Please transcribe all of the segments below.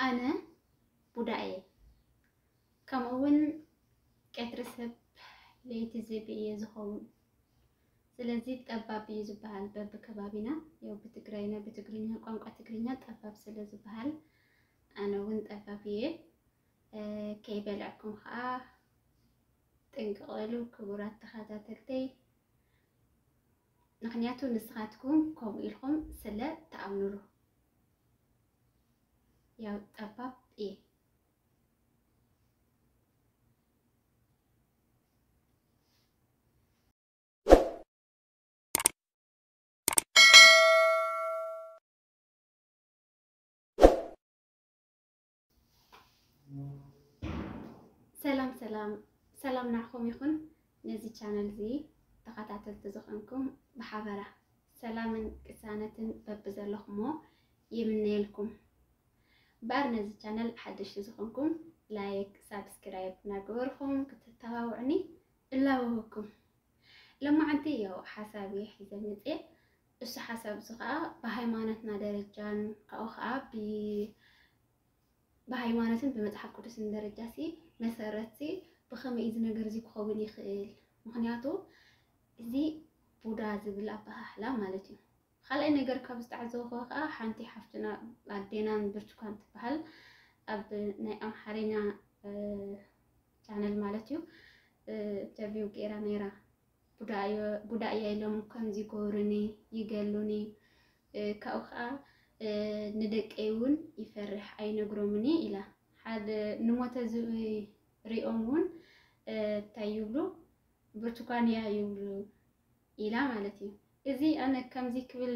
ኣነ ቡዳ እየ ከምኡ እውን ቀትሪ ሰብ ለይቲ ዝቢ እየ ዝኸውን ስለዚ ጠባብ እዩ ዝበሃል በቢ ከባቢና ያው ብትግራይና ብትግርኛ ቋንቋ ትግርኛ ጠባብ ስለ ዝበሃል ኣነ እውን ጠባብ እየ ከይበልዐኩም ከኣ ጥንቅቅ በሉ ክቡራት ተኸታተልተይ ምክንያቱ ንስኻትኩም ከምኡ ኢልኩም ስለ ትኣምኑሉ ያው ጠባብ እየ ሰላም ሰላም ሰላም ናዕኹም ይኹን ነዚ ቻነል እዚ ተኸታተልቲ ዝኾንኩም ብሓበራ ሰላምን ቅሳነትን በብዘለኹሞ ይምነየልኩም። እምበኣር ነዚ ቻነል ሓደሽቲ ዝኾንኩም ላይክ፣ ሳብስክራይብ እናገበርኹም ክትተባብዑኒ እላበወኩም። ሎማዓንቲ ያው ሓሳብ እየ ሒዘ መፅየ እሱ ሓሳብ እዚ ኸኣ ብሃይማኖትና ደረጃን ካብኡ ኸኣ ብሃይማኖትን ብመጽሓፍ ቅዱስን ደረጃሲ መሰረትሲ ብኸመይ እዚ ነገር እዚ ክኸውን ይኽእል? ምኽንያቱ እዚ ቡዳ ዝብል ኣበሃህላ ማለት እዩ። ካልኣይ ነገር ካብ ዝተዓዘብኹዎ ኸኣ ሓንቲ ሓፍትና ኣዴናን ብርቱካን ትበሃል ኣብ ናይ ኣምሓርኛ ቻነል ማለት እዩ ኢንተርቪው ገይራ ነይራ ቡዳ'የ ኢሎም ከምዚ ይገብሩኒ፣ ይገሉኒ፣ ካብኡ ከኣ ንደቀይ እውን ይፈርሕ ኣይነግሮምን'የ ኢላ። ሓደ ንሞተ ዝብኢ ሪኦም እውን እንታይ ይብሉ ብርቱኳን'ያ ይብሉ ኢላ ማለት እዩ። እዚ ኣነ ከምዚ ክብል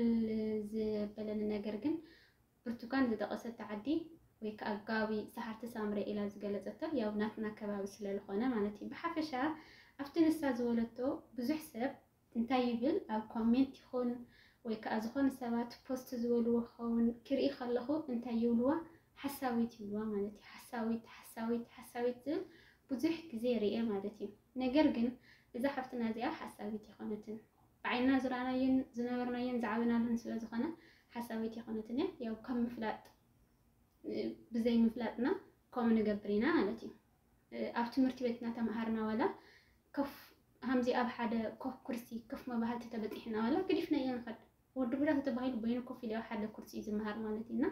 ዘበለኒ ነገር ግን ብርቱካን ዝጠቐሰቶ ዓዲ ወይ ከኣ ከባቢ ሰዓርቲ ሳምረ ኢላ ዝገለጸቶ ያው ናትና ከባቢ ስለልኾነ ማለት እዩ። ብሓፈሻ ኣብቲ ንሳ ዝበለቶ ብዙሕ ሰብ እንታይ ይብል ኣብ ኮሜንት ይኹን ወይ ከኣ ዝኾነ ሰባት ፖስት ዝበልዎ ክኸውን ክርኢ ከለኹ እንታይ ይብልዋ ሓሳዊት ይብልዋ ማለት እዩ። ሓሳዊት ሓሳዊት ሓሳዊት ዝብል ብዙሕ ግዜ ርኤ ማለት እዩ። ነገር ግን እዛ ሓፍትና እዚኣ ሓሳዊት ኣይኮነትን። ብዓይንና ዝረኣናዮን ዝነበርናዮን ዝዓበናሉን ስለ ዝኾነ ሓሳብ ኣይኮነትን እያ። ያው ከም ምፍላጥ ብዘይ ምፍላጥና ከምኡ ንገብር ኢና ማለት እዩ። ኣብ ትምህርቲ ቤት እናተምሃርና ዋላ ኮፍ ሃምዚ ኣብ ሓደ ኮፍ ኩርሲ ኮፍ መባህልቲ ተበፂሕና ዋላ ግዲፍና እያ ንኸድ ወዲ ቡዳ ተተባሂሉ በይኑ ኮፍ ኢሉ ኣብ ሓደ ኩርሲ እዩ ዝመሃር ማለት እዩ እና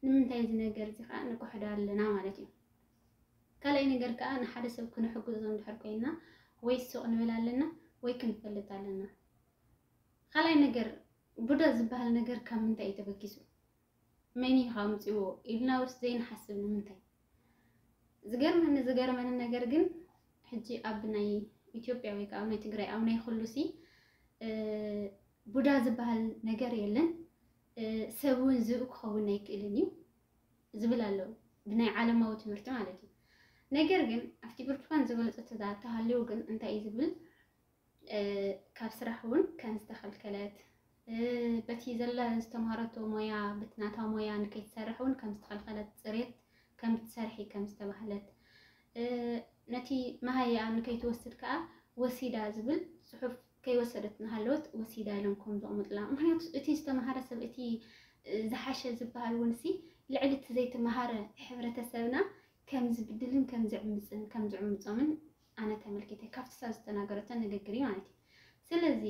ንምንታይ እዚ ነገር እዚ ከዓ ንክሕዶ ኣለና ማለት እዩ። ካልኣይ ነገር ከኣ ንሓደ ሰብ ክንሕግዞ እንድሕር ኮይና ወይ ሱቕ ንብል ኣለና ወይ ክንፈልጥ ኣለና። ካልኣይ ነገር ቡዳ ዝበሃል ነገር ካብ ምንታይ እዩ ተበጊሱ? መን እዩ ኣምፂዎ ኢልና ውስ ዘይንሓስብ ንምንታይ? ዝገርመኒ ዝገርመኒ ነገር ግን ሕጂ ኣብ ናይ ኢትዮጵያ ወይ ከዓ ኣብ ናይ ትግራይ ኣብ ናይ ኩሉሲ ቡዳ ዝበሃል ነገር የለን። ሰብ እውን ዝብኢ ክኸውን ኣይክእልን እዩ። ዝብል ኣሎ ብናይ ዓለማዊ ትምህርቲ ማለት እዩ ነገር ግን ኣብቲ ብርቱካን ዝበለፆ ተሃልዩ ግን እንታይ እዩ ዝብል ካብ ስራሕ እውን ከም ዝተኸልከለት በቲ ዘላ ዝተምሃረቶ ሞያ በቲ ናታ ሞያ ንከይትሰርሕ እውን ከም ዝተኸልከለት ፅሬት ከም ትሰርሒ ከም ዝተባህለት ነቲ መሃያ ንከይትወስድ ከዓ ወሲዳ ዝብል ፅሑፍ ከይወሰደት እናሃለወት ወሲዳ ኢሎም ከም ዘቕምጡላ። ምኽንያቱ እቲ ዝተምሃረ ሰብ እቲ ዝሓሸ ዝበሃል እውንሲ ልዕሊ እቲ ዘይተምሃረ ሕብረተሰብና ከም ዝብድልን ከም ዝዕምፅን ከም ዝዕምፆምን ኣነ ተመልኪተ ካብቲ ሳብ ዝተናገረቶ ንግግር እዩ ማለት እዩ። ስለዚ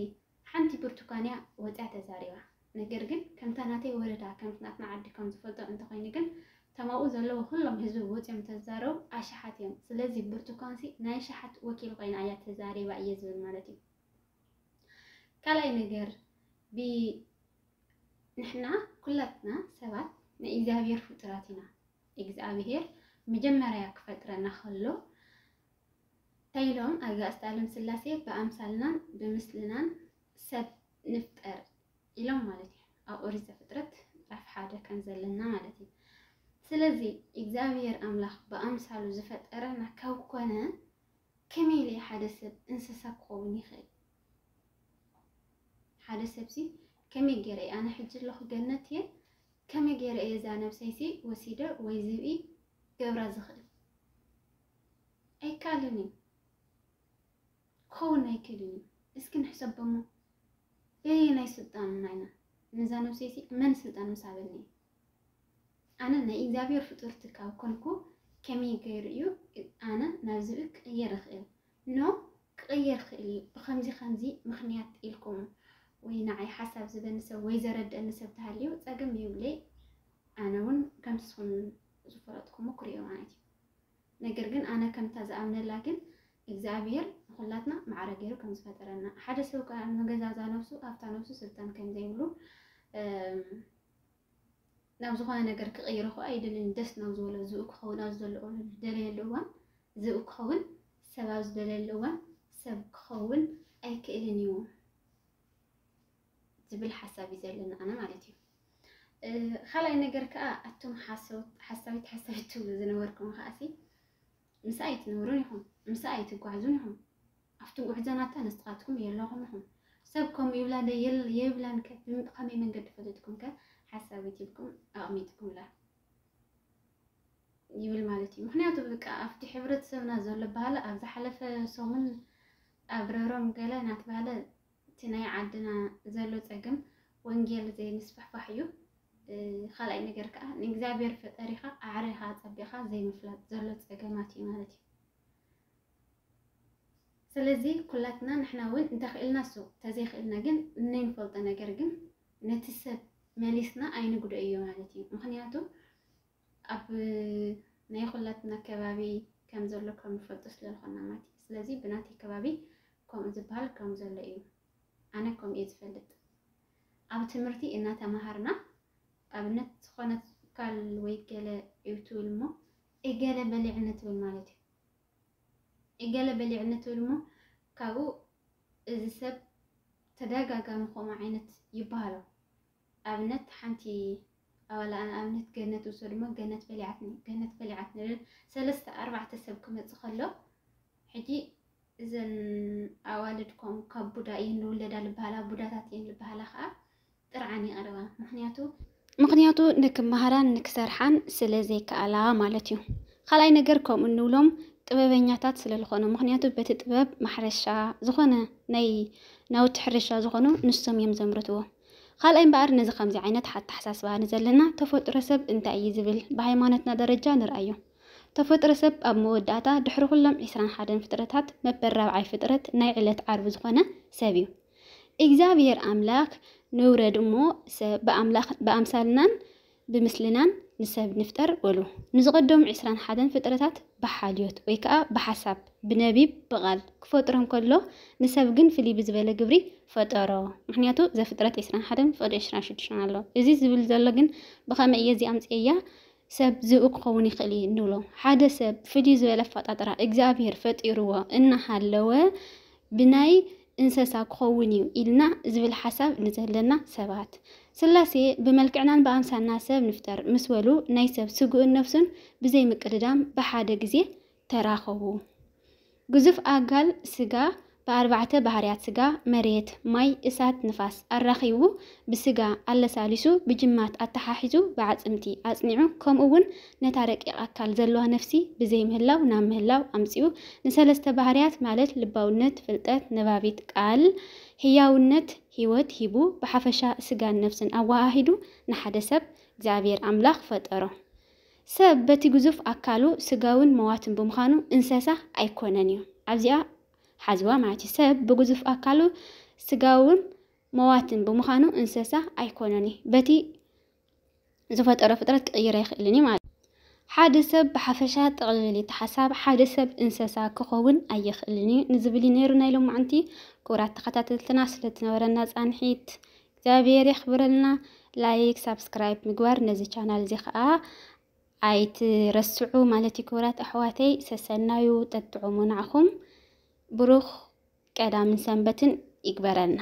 ሓንቲ ብርቱካን እያ ወፅያ ተዛሪባ። ነገር ግን ከምታ ናተይ ወረዳ ከምቲ ናትና ዓዲ ከም ዝፈልጦ እንተኮይኑ ግን እቶም ኣብኡ ዘለዉ ኩሎም ህዝቢ ወጽዮም ተዛረቡ ኣሽሓት እዮም ስለዚ ብርቱኳንሲ ናይ ሽሓት ወኪል ኮይና እያ ተዛሪባ እየ ዝብል ማለት እዩ ካልኣይ ነገር ብ ንሕና ኩላትና ሰባት ናይ እግዚኣብሔር ፍጡራት ኢና እግዚኣብሔር መጀመርያ ክፈጥረና ከሎ እንታይ ኢሎም ኣጋእዝተ ኣለምስላሴ ብኣምሳልናን ብምስልናን ሰብ ንፍጠር ኢሎም ማለት እዩ። ኣብ ኦሪት ዘፍጥረት ምዕራፍ ሓደ ከም ዘለና ማለት እዩ። ስለዚ እግዚኣብሄር ኣምላኽ ብኣምሳሉ ዝፈጠረና ካብ ኮነ ከመይ ኢለ ሓደ ሰብ እንስሳ ክኸውን ይኽእል? ሓደ ሰብሲ ከመይ ገይረ እየ ኣነ ሕጂ ኣለኹ ገነት እየ ከመይ ገይረ እየ እዛ ነብሰይሲ ወሲደ ወይ ዝብኢ ገብራ ዝኽእል? ኣይከኣልን እዩ ክኸውን ኣይክእልን እዩ እስኪ ንሕሰብ እሞ በየናይ ስልጣን ኢና ኢና ነዛ ነብሰይቲ መን ስልጣን ምስ ሃበኒ ኣነ ናይ እግዚኣብሔር ፍጡርቲ ካብ ኮንኩ ከመይ ገይሩ እዩ ኣነ ናብ ዝብል ክቕየር እኽእል ኖ ክቕየር ክእል እዩ ብከምዚ ከምዚ ምክንያት ኢልኩም ወይ ንዓይ ሓሳብ ዝበኒ ሰብ ወይ ዘረድአኒ ሰብ ተሃልዩ ፀገም የብለይ ኣነ እውን ከምቲ ስኹም ዝፈለጥኩሞ ክሪኦ ማለት እዩ ነገር ግን ኣነ ከምታ ዝኣምነላ ግን እግዝኣብሄር ንኩላትና ማዕረ ገይሩ ከም ዝፈጠረና ሓደ ሰብ ከኣ ንገዛ እዛ ነብሱ ኣብታ ነብሱ ስልጣን ከም ዘይብሉ ናብ ዝኾነ ነገር ክቕይሮ ከኣ ኣይደልን ደስ ናብ ዝበሎ ዝኡ ክኸውን ኣብ ዘለዎ ዝደለየሉ እዋን ዝኡ ክኸውን ሰብ ኣብ ዝደለየሉ እዋን ሰብ ክኸውን ኣይክእልን እዩ። ዝብል ሓሳብ እዩ ዘለና ኣነ ማለት እዩ። ካልኣይ ነገር ከዓ ኣቶም ሓሳዊት ሓሳዊት ትብሉ ዝነበርኩም ከዓሲ ምስ ኣይትነብሩን ኢኹም፣ ምስ ኣይትጓዕዙን ኢኹም። ኣብቲ ጉዕዘናታ ንስኻትኩም የለኹም ኢኹም። ሰብ ከምኡ ይብላ ዶ የብላን ከ ብከመይ መንገዲ ፈለጥኩም ከ ሓሳዊት ኢልኩም ኣቕሚጥኩምላ ይብል ማለት እዩ። ምክንያቱ በቃ ኣብቲ ሕብረተሰብና ዘሎ ባህሊ ኣብ ዝሓለፈ ሰሙን ኣብረሮም ገለ ናትባህለ እቲ ናይ ዓድና ዘሎ ጸገም ወንጌል ዘይምስፍሕፋሕ እዩ። ካልኣይ ነገር ከዓ ንእግዚኣብሔር ፈጠሪኻ ኣዕሪኻ ኣጸቢቕኻ ዘይምፍላጥ ዘሎ ጸገማት እዩ ማለት እዩ። ስለዚ ኩላትና ንሕና እውን እንተኽእልና እሱ ተዘይኽእልና ግን እንፈልጦ ነገር ግን ነቲ ሰብ መሊስና ኣይንጉዶ እዩ ማለት እዩ። ምክንያቱ ኣብ ናይ ኹላትና ከባቢ ከም ዘሎ ከም ንፈልጦ ስለ ልኾና ማለት እዩ ስለዚ ብናተይ ከባቢ ከምኡ ዝብሃል ከም ዘሎ እዩ ኣነ ከምኡ እየ ዝፈልጥ ኣብ ትምህርቲ እናተማሃርና ኣብነት ዝኾነት ካል ወይ ገለ እዩ ትብል እሞ እገለ በሊዕ ንትብል ማለት እዩ እገለ በሊዕ ንትብል እሞ ካብኡ እዚ ሰብ ተደጋጋሚ ከምኡ ዓይነት ይበሃሎ ኣብነት ሓንቲ ኣባላኣ ንኣብነት ገነት ውሰዱ እሞ ገነት በሊዓትኒ ገነት በሊዓትኒ ልብል ሰለስተ ኣርባዕተ ሰብ ክመጽእ ከሎ ሕጂ እዘን ኣዋልድ ኮም ካብ ቡዳ እየን ዝውለዳ ዝበሃላ ቡዳታት እየን ዝበሃላ ከዓ ጥርዓን ይቐርባ ምክንያቱ ምክንያቱ ንክመሃራን ንክሰርሓን ስለ ዘይከኣላ ማለት እዩ። ካልኣይ ነገር ከምኡ እንብሎም ጥበበኛታት ስለ ዝኾኑ ምክንያቱ በቲ ጥበብ ማሕረሻ ዝኾነ ናይ ናውቲ ሕርሻ ዝኾኑ ንሶም እዮም ዘምርትዎ። ኻልኣይ እምበኣር ነዚ ከምዚ ዓይነት ኣተሓሳስባ ንዘለና ተፈጥሮ ሰብ እንታይ እዩ ዝብል ብሃይማኖትና ደረጃ ንርኣዮ። ተፈጥሮ ሰብ ኣብ መወዳእታ ድሕሪ ኩሎም ዕስራን ሓደን ፍጥረታት መበል ራብዓይ ፍጥረት ናይ ዕለት ዓርቢ ዝኾነ ሰብ እዩ። እግዚኣብሄር ኣምላክ ንውረድ እሞ ሰብ ብኣምላክ ብኣምሳልናን ብምስልናን ንሰብ ንፍጠር በሉ። ንዝቐደሙ ዕስራን ሓደን ፍጥረታት ብሓልዮት ወይ ከኣ ብሓሳብ፣ ብነቢብ፣ ብቓል፣ ክፈጥሮም ከሎ ንሰብ ግን ፍልይ ብዝበለ ግብሪ ፈጠሮ። ምኽንያቱ ዘፍጥረት ዕስራን ሓደን ፍቕዲ ዕስራን ሽዱሽተን ኣሎ። እዚ ዝብል ዘሎ ግን ብኸመይ እየ እዚ ኣምጺኤያ? ሰብ ዝብኢ ክኸውን ይኽእል እዩ እንብሎ። ሓደ ሰብ ፍልይ ዝበለ ኣፈጣጥራ እግዚኣብሄር ፈጢርዎ እናሃለወ ብናይ እንሰሳ ክኸውን እዩ ኢልና ዝብል ሓሳብ ንዘለና ሰባት፣ ስላሴ ብመልክዕናን ብኣምሳልና ሰብ ንፍጠር ምስ በሉ ናይ ሰብ ስግኡን ነፍሱን ብዘይ ምቅድዳም ብሓደ ግዜ ተራኸቡ። ግዙፍ ኣካል ስጋ ብኣርባዕተ ባህርያት ስጋ፣ መሬት፣ ማይ፣ እሳት፣ ንፋስ፣ ኣራኺቡ ብስጋ ኣለሳሊሱ ብጅማት ኣተሓሒዙ ብኣዕጽምቲ ኣጽኒዑ ከምኡ እውን ነታ ረቂቕ ኣካል ዘለዋ ነፍሲ ብዘይምህላው ናብ ምህላው ኣምጺኡ ንሰለስተ ባህርያት ማለት ልባውነት፣ ፍልጠት፣ ነባቢት ቃል፣ ህያውነት፣ ህይወት፣ ሂቡ ብሓፈሻ ስጋን ነፍስን ኣወሃሂዱ ንሓደ ሰብ እግዚኣብሔር ኣምላኽ ፈጠሮ። ሰብ በቲ ግዙፍ ኣካሉ ስጋውን መዋትን ብምዃኑ እንሰሳ ኣይኮነን እዩ። ኣብዚኣ ሓዝዋ ማለት እዩ። ሰብ ብግዙፍ ኣካሉ ስጋውን መዋትን ብምዃኑ እንሰሳ ኣይኮነን እዩ። በቲ ዝፈጠሮ ፍጥረት ክቕይር ኣይኽእልን እዩ ማለት ሓደ ሰብ ብሓፈሻ ጠቕልል እቲ ሓሳብ ሓደ ሰብ እንሰሳ ክኸውን ኣይኽእልን እዩ ንዝብል እዩ ነይሩ ናይ ሎማዕንቲ ክቡራት ተኸታተልትና ስለትነበረና ፃንሒት እግዚኣብሔር የኽብረልና ላይክ ሳብስክራይብ ምግባር ነዚ ቻናል እዚ ከዓ ኣይትረስዑ ማለት እዩ ክቡራት ኣሕዋተይ ሰሰናዩ ጠጥዑሙ ናዕኹም ብሩኽ ቀዳምን ሰንበትን ይግበረልና